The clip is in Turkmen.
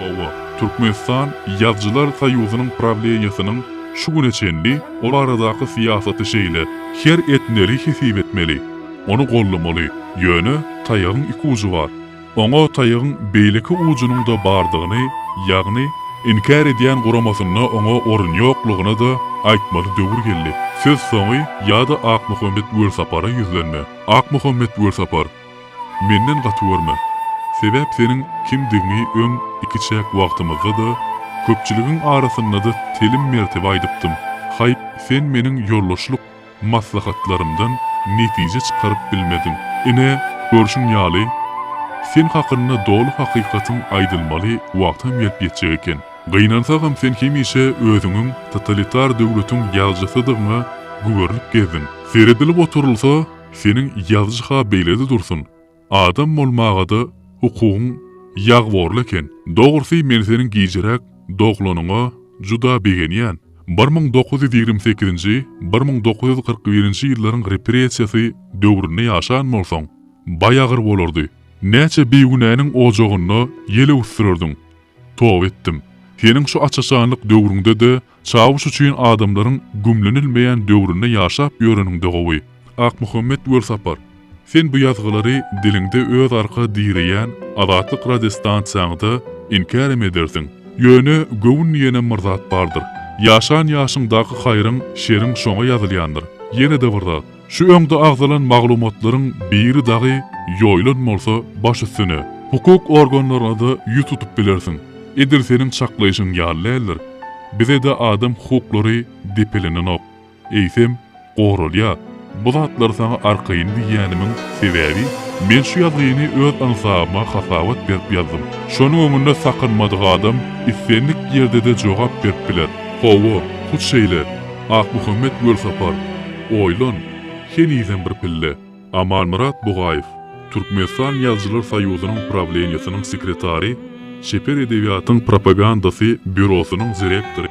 Hawa, Türkmenistan Ýazyjylar soýuzynyň prawleniýesiniň şu güne çenli o baradaky syýasaty şeýle, Her etmeli hesip etmeli. Ony goldamaly. Ýöne, taýagyň iki ujy bar. Oňa taýagyň beýleki ujunyň-da bardygyny, ýagny, inkär edýän guramasynda oňa orun ýoklugyny-da aýtmaly döwür geldi. Söz soňy ýa-da Akmuhammet Welsapara ýüzlenme. Akmuhammet Welsapar, menden gaty görme. Sebäp seniň kimdigiňi öň ikiçäk wagtymyzda-da, köpçüligiň arasynda-da telim mertebe aýdypdym. Haýp, sen meniň ýoldaşlyk. Maslahatlarymdan netije çykaryp bilmediň. Ine, görşüň ýaly, sen hakynda doly hakykatyň aýdylmaly wagtam gelip ýetjek eken. Gynansagam sen hemişe özüňiň totalitar döwletiň ýazyjysydygyňa güberlip gezdiň. Seredilip oturylsa, seniň ýazyjy-ha beýlede dursun. Adam bolmagada hukugyň ýagborly eken. Dogrusy men seniň gijiräk doglanyňa juda begenýän. Bir müň dokuz ýüz ýigrimi sekizinji, bir müň dokuz ýüz kyrk birinji ýyllaryň repressiýasy döwründe ýaşan bolsaň, baý agyr bolardy. Näçe bigünäniň ojagynda ýel öwüsdirerdiň. Toba etdim. Seniň şu açaşanlyk döwrüňde-de Çawuş üçin adamlaryň gümlenilmeýän döwründe ýaşap ýöreniň-de gowy. Akmuhammet Welsapar, sen bu ýazgylary diliňde öz arka direýän Azatlyk radiostansiýaňda inkärem edersiň. Ýöne göwün diýenem bir zat bardyr. Ýaşan ýaşyňdaky haýryň, şeriň şoňa ýazylýandyr. Ýene-de bir zat. Şu öňde agzalan maglumatlaryň biri dagy ýoýlan bolsa baş üstüne, hukuk organlaryna-da ýüz tutup bilersiň. Edil seniň çaklaýşyň ýaly däldir. Bize-de adam hukuklary depelenenok. Eýsem, goralýar. Bu zatlary saňa arkaýyn diýýänimiň sebäbi, men şu ýazgyny öz ynsabyma hasabat berip ýazdym. Şonuň öňünde sakynmadyk adam islendik ýerde-de jogap berip biler. Hawa, hut şeýle, Akmuhammet Welsapar. Oýlan, henizem bir pille! Amanmyrat Bugaýew, Türkmenistan Ýazyjylar soýuzynyň Prawleniýesiniň sekretary, Çeper edebiýatyň propagandasy býurosynyň direktory.